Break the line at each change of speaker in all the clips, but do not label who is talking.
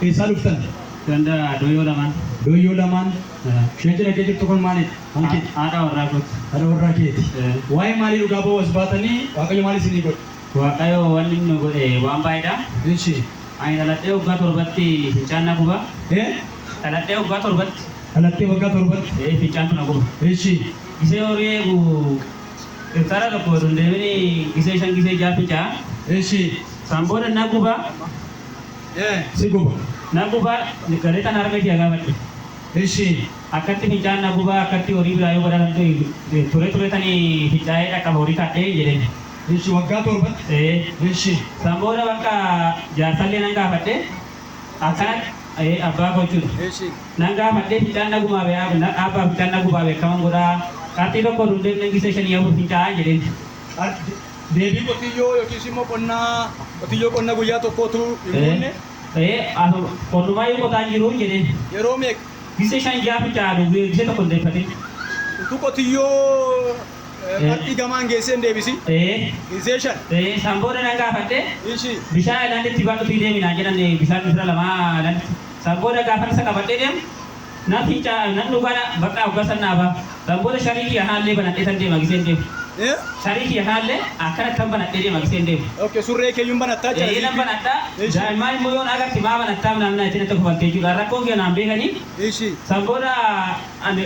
Eessaa dhuftan? Ganda Doyyoo Lamaan. Doyyoo Lamaan.
Isheen cina kee jirtu kun maaliidha? Kan keeti? Haadha warraa kooti.
Haadha warraa keeti.
Waa'ee maalii dhugaa ba'uu as baatanii? Waaqayyo maal isinii godhe? Waaqayyo wanni
inni nu godhe waan baay'eedha. Eshi.
Ani dhaladhee
waggaa torbatti fincaan na guba. Ee? Dhaladhee waggaa torbatti. Dhalattee waggaa torbatti.
Ee fincaantu na guba.
Eshi. Gisee
horii eegu
hektaaraa tokko oduun deemini gisee shan gisee ja'a fincaa. Eshi.
San booda na
guba. Ee
si guba. Na guba
galetan harmee tiya gaafadhe. Eshi.
Akkatti fincaan
na guba akkatti horii biraa yoo badaasan ture turetani fincaa'ee dhaqqaba horii taadhee jedheen. Eshi waggaa
torbatti ee eshi. San booda bakka
jaarsallee nan gaafadhe akkanatti ee abbaa koo jechuudha. Eshi. Nan
gaafadhe fincaan
na gubaabe abbaa fincaan na gubaabe akkaman godhaa qarxii tokko oduu hin deemneen gisee shanii afur fincaa'aa jedheen. Qar
deebii qotiyyoo yookiis immoo qonna qotiyyoo qonna guyyaa tokkoo utuu hin Ee guunne. ee asu
qonnumaayyuu qotaa hin jiruu jedheen. Yeroo meeqa?
Gisee shan ja'a
fincaa'aa du gisee tokko hin deeffatin. Utuu
qotiyyoo. Eh. Martii gamaan geessee hin deebisi. Ee. Insee shan. Ee, san booda nan gaafadhe,
Ishii. bishaan
aylaanditti baadhutii
deemi naan jedhan, ee, bishaan misira lama aylaanditti. San booda gaafan isa qabadhee deemu, nan finca, nan dhuga, na, baqqa hoggaa san naa baha. San booda sharii kiyya kanallee banadheetan deema giseen deemu. Eh? Sharii kiyya kanallee akkanattan banadhee deema giseen deemu. Ok, surree keeyyuu hin
banattaa jechuudha, Ee, nan ziippii. banadha. Ishii.
Daa'immaan immoo yoo na agarte maa banattaam naan naan jettee natti kofalti jechuudha. Rakkoo kiyya naan beekanii. Ishii. San booda ani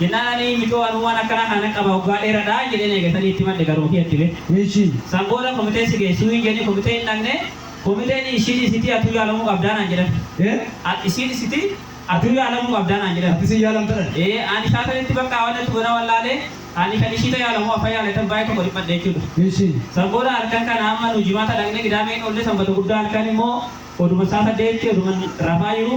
Jennaan ani michoo anuu waan akkanaa kana nan qaba waggaa dheeradha jedheen eega sanii itti himadhe garuu ofii addibee. Eeshii. San booda
komitee si
geessuu hin jedhanii komitee hin dhaqne komiteen ishiin isitii atuu yaalamuu qabdaa naan jedhan. Ee. At isiin isitii atuu yaalamuu qabdaa naan jedhan. Ati isiin yaalamta dhan. Ee
ani saa sanitti
bakka waan natti godhan wallaale ani kan ishii ta yaala moo afan yaala tan baay'ee tokko dhiphadhe jechuudha. Eeshii. San booda
halkan kana
amma nu jimaata dhaqne qidaamee hin oolle sanbata guddaa halkan immoo oduma saa saddeetti oduman rafaa jiru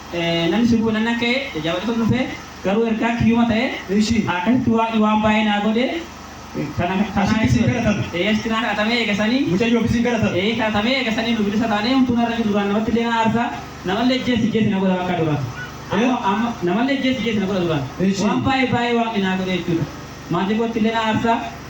Namni sun kun nan ka'e jajjabaachatun dhufe, garuu ergaan kiyyuma ta'e, akkasitti
Waaqni waan
baay'ee naa godhe, kana, kanaa Asitti
isin jechuudha. kadhatame. Ee, asitti naa kadhatamee eega
sanii, Mucayyoof isin kadhatame.
ee, kadhatamee eega sanii nu
bilisa taanee, homtuu narra hin jiru, duraan namatti illee nan aarsa, namallee ijjeesi ijjeesi na godha bakka duraan. Ee? Amma, amma, namallee ijjeesi ijjeesi na godha duraan. Eshi. Waan baay'ee, baay'ee Waaqni naa godhe jechuudha. Maatii kootti illee na aarsa.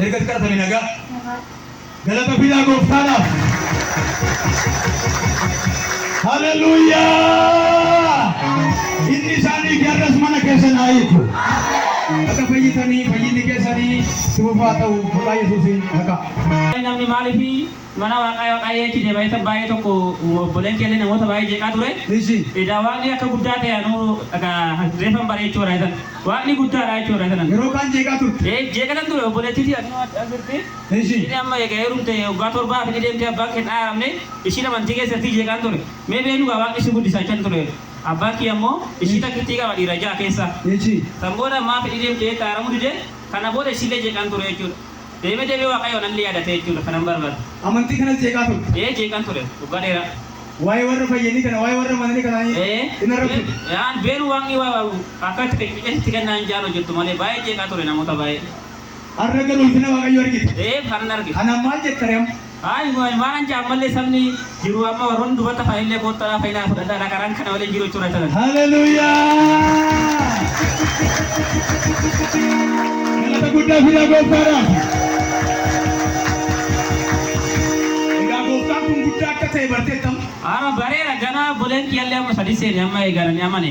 Ergati kadhatame nagaa. Nagaa. Galata fidaa gooftaadhaaf. Haleluuyaa! Inni isaanii fi har'as mana keessan haa hiiku. Akka fayyitanii fayyinni keessanii si fufaa ta'u maqaa Yesuusiin maqaa. Namni maaliif
Mana Waaqaa Waaqaa Yeechi deema isa baay'ee tokko uuma obboleen keellee namoota baay'ee jeeqaa ture. Nishi. Edaa Waaqni akka guddaa ta'e anuu akka reefan bare jechuu irraa isan. Waaqni guddaa dha jechuu irraa isanan. Yeroo kaan jeeqaa turte.
Ee jeeqatan ture obboleettiti
anuu adda jirti. Nishi. Ishini amma eega heerumte waggaa torbaa fi ni deemte abbaan kee hin dhaaramne ishiin amantii keessatti jeeqaan ture. Mee beenu gaa Waaqni si guddisa jechan ture. Abbaan kiyya immoo ishii takkittii qaba dhiira ja'a keessa. Nishi. San booda maaf hidhii deemte jette dhaaramuu dide kana booda ishiillee jeeqaan ture jechuudha. Deeme deeme waqayoo nallee yadatee jechuudha kanan barbada.
Amantii
kanas jeeqaa turte? Ee jeeqan ture waggaa dheeraa.
Waa'ee warra fayyanii kana waa'ee warra amananii kanaa hin arrabsine? Ee an beenu waaqni
akka itti qeqeqee sitti kennaa hin jaal hojjettu malee baay'ee jeeqaa ture namoota baay'ee. Har'a garuu
ulfina Waaqayyoo argite? Ee kanan arge. Kanaan
maal jetta ree amma?
Ayi boy malan ja
ammalle sabni jiru amma warronni dubata faille kotta la faina fudhadha na karan kana wale jiru chura tanan. Galata guddaa fidaa
gooftaadhaaf. Egaa gooftaan kun guddaa akka ta'e barteettam. Ara barera gana
bolen kiyalle amma sadiseni amma egarani amane.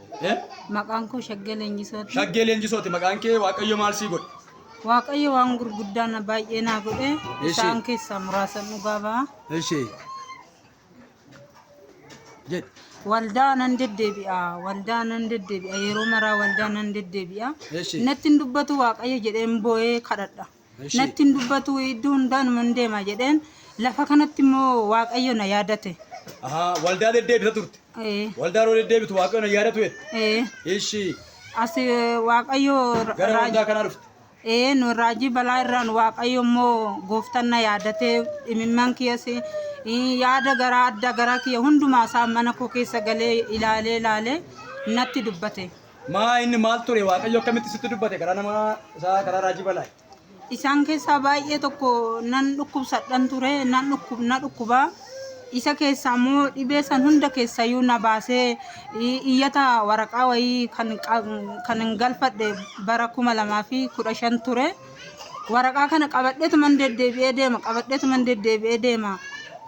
Eh? Maqaan koo Shaggee Leenjisooti. Shaggee leenjisooti maqaan
kee waaqayyo maal sii godhe? Waaqayyo waan
gurguddaa na baay'ee naa godhe Ishee. isaan keessaa muraasan dhugaa ba'a. Ishee. Jedhe. Waldaa nan deddeebi'a. Waldaa nan deddeebi'a. Yeroo maraa waldaa nan deddeebi'a. Ishee. Natti hin dubbatu Waaqayyo jedheen boo'ee kadhadha. Natti hin dubbatu iddoo hundaanuma hin deema jedheen lafa kanatti immoo waaqayyo na yaadate. Ahaa, waldaa
deddeebita turte. Ee, Waldaa yeroo deddeebitu waaqayyo na yaadatu jette. ee, Ishi As eh,
waaqayyo ra- gara waldaa raajii
kanaa dhufte. ee, nu raajii
balaa irraan waaqayyo immoo gooftaan na yaadatee dhimimman kiyas eh, yaada garaa adda garaa kiyya hundumaa isaa mana koo keessa galee ilaalee ilaalee natti dubbate. Maa inni maal
ture Waaqayyo akkamitti sitti dubbate karaa nama isaa karaa raajii balaa. Isaan keessaa
baay'ee tokko nan dhukkubsadhan ture nan dhukkub na dhukkuba. Isa keessaa immoo dhibee san hunda keessayyuu na baasee i- iyyata waraqaa wayii kan qab- kan hin galfadhe bara kuma lamaa fi kudha shan ture. Waraqaa kana qabadheetuman deddeebi'ee deema qabadheetuman deddeebi'ee deema.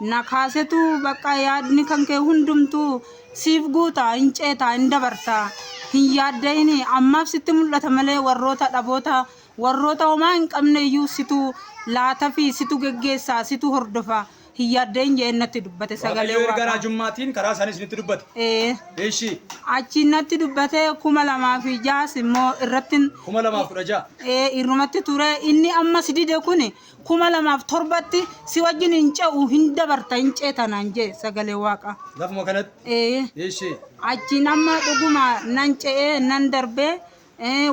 Na kaasetu bakka yaadni kan kee hundumtuu Siif guuta, hin ceeta, hin dabarta. Hin yaadda'inii. Ammaaf sitti mul'ata malee warroota dhaboota, warroota homaa hin qabne iyyuu situ laatafii, situ geggeessa, situ hordofa. Hin yaadda'in jedhee natti dubbate sagalee Waaqayyo erga Waaqaa. raajummaatiin
karaa isaanii isinitti dubbate. Ee. Eshi. Achiin natti
dubbate 2006s immoo irrattin 2016.
ee irrumatti
ture. Inni ammas dide kuni kuma lamaaf torbatti si wajjin hin ce'u hin dabarta hin ceeta naan jee sagalee waaqa. Lafuma kanatti?
Ee. Ishee. Achiin amma
dhuguma nan ce'ee nan darbee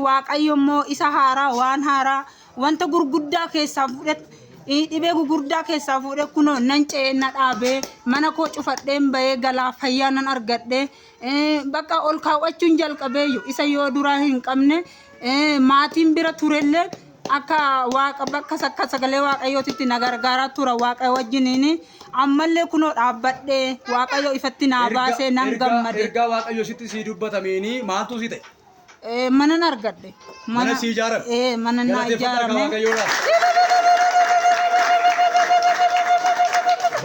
waaqayyo immoo isa haaraa waan haaraa wanta gurguddaa keessaa fuudhet dhibee gurguddaa keessaa fuudhe kunoo nan ce'ee na dhaabee mana koo cufadheen bahee galaa fayyaa nan argadhee Bakka ol kaawwachuun jalqabeeyyu isa yoo duraa hin qabne maatiin bira turellee akka waaqa bakka akka sagalee waaqayyootitti na gargaaraa tura waaqayyo wajjiniin ammallee kunoo dhaabbadhee waaqayyo ifatti naa baasee nan gammade. Ergaa waaqayyo sitti sii
dubbatameenii maaltuu si ta'e? Eh, manan
argadhe. Mana si ijaarame.
Eh, mana naa Galateeffadhaa kan
ijaarame. Waaqayyoodhaaf.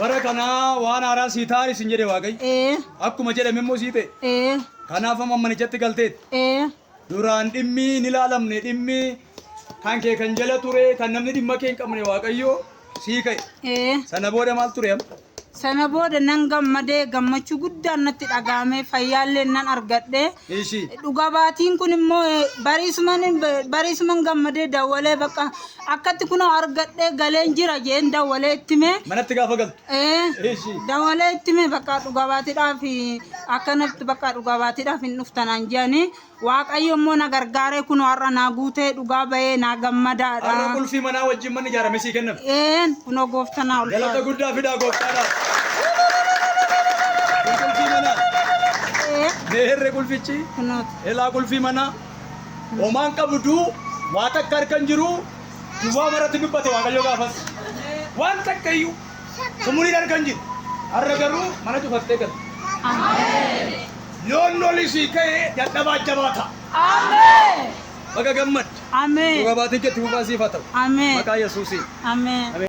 Bara kanaa waan haaraa sii taa'an isin jedhe Waaqayyo. Eh, Akkuma jedhame immoo sii ta'e. eh, Kanaaf amma manichatti galteetti. eh, Duraan dhimmi hin ilaalamne dhimmi kan kee kan jala ture kan namni dhimma kee hin qabne waaqayyo sii ka'e. Ee. Sana booda maal ture amma? Sana booda
nan gammadee gammachuu guddaan natti dhaga'amee fayyaallee nan argadhe. Ishii. Dhugaa baatiin kun immoo eh, bariisuman bariisuman gammadee dawwalee bakka akkatti kunoo argadhee galeen jira jeen dawwalee itti mee. Manatti gaafa galtu.
Eh, Ishii. dawwalee
itti mee bakka dhugaa baatiidhaaf akkanatti bakka dhugaa baatiidhaaf hin dhuftanaan jedhanii Waaqayyo immoo na gargaaree kunoo har'a naa guutee dhugaa bayee naa gammadaadha. Har'a qulfii manaa
wajjin manni ijaarame sii kenname. Eeen kunoo goofta
naa ulfaadhu. Galata guddaa fidaa gooftaadhaaf.
Kun qulfii manaa. Ee, Mee herre qulfichi. kunooti. Elaa qulfii manaa. Homaan qabuduu waa takka harka hin jiruu duwwaa maratti dubbate waaqayyo gaafas. Waan takka iyyuu. Sumurii dhargan jiru. Har'a garuu mana cufattee galte. Yoon loli sii ka'e dadhabaa jabaa ta'a. Baga gammadde. Dhuga baatiin kee itti fufaa siif haa ta'u. Maqaa Yesuusiin. Ameen.